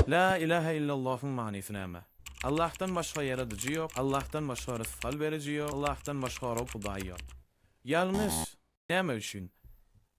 La ilahe illallohyň manysy näme? Allahdan başga ýaradyjy ýok, Allahdan başga rysgal beriji ýok, Allahdan başga Rob Hudaý ýok. Ýalňyş! Näme üçin?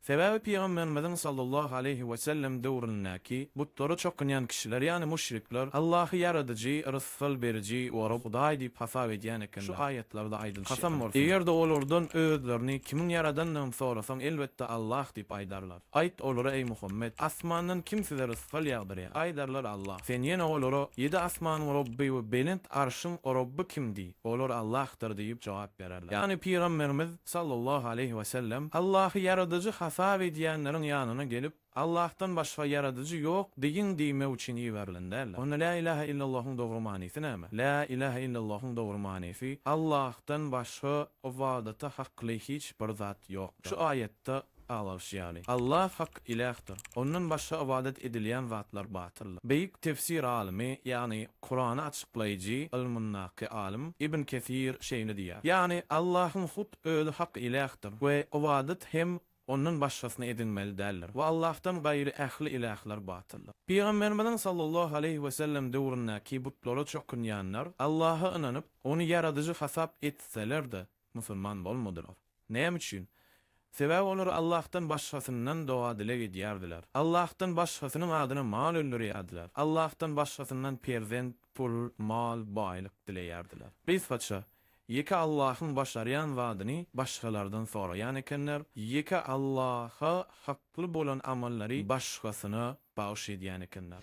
Sebäbi pygamberimiziň sallallahu aleýhi we sellem döwründäki butlara çokunýan kişiler ýagny müşrikler Allahy ýaradyjy, rysgal beriji we Rob Hudaý diýip hasap edýän ekenler. Şu aýatlarda aýdylyşy ýaly, eger-de olardan özlerini kimiň ýaradandygyny sorasaň elbetde Allah diýip aýdarlar. Aýt olara, eý, Muhammet, asmandan kim size rysgal ýagdyrýar? Aýdarlar, Allah. Sen ýene olara, Ýedi asmanyň Rabby we belent Arşyň Rabby kim? diý. Olar, Allahdyr diýip jogap bererler. Ýagny Pygamberimiz, sallallahu aleýhi we sellem, Allahy ýaradyjy hasap edýänleriň ýanyna gelip, Allahdan başga ýaradyjy ýok diýiň diýmek üçin iberilen däldir. Onda Lä ilahe illallahyň dogry manysy näme? Lä ilahe illallahyň dogry manysy, Allahdan başga ybadata hakly hiç bir zat ýokdur. Şu aýatda Aglalyş ýaly. Allah hak Ilähdir. Ondan başga ybadat edilýän zatlar batyldyr. Beýik tefsir alymy, ýagny Kurany açyklaýjy ylmyndaky alym Ibn Kesir şeýle diýýär, Ýagny Allahyň hut Özi hak Ilähdir we ybadat hem Ondan başgasyny edinmeli däldir we Allahdan gaýry ähli ilähler batyldyr. Pygamberimiziň sallallahu aleýhi we sellem döwründäki butlara çokunýanlar Allaha ynanyp, Ony Ýaradyjy hasap etseler-de, Musulman bolmadylar. Näme üçin? Sebäbi olar Allahdan başgasyndan doga-dileg edýärdiler. Allahdan başgasynyň adyna mal öldürýärdiler. Allahdan başgasyndan perzent, pul, mal, baýlyk dileýärdiler. Gysgaça, ýeke Allahyň başarýan zadyny başgalardan soraýan ekenler, ýeke Allaha hakly bolan amallary başgasyna bagyş edýän ekenler.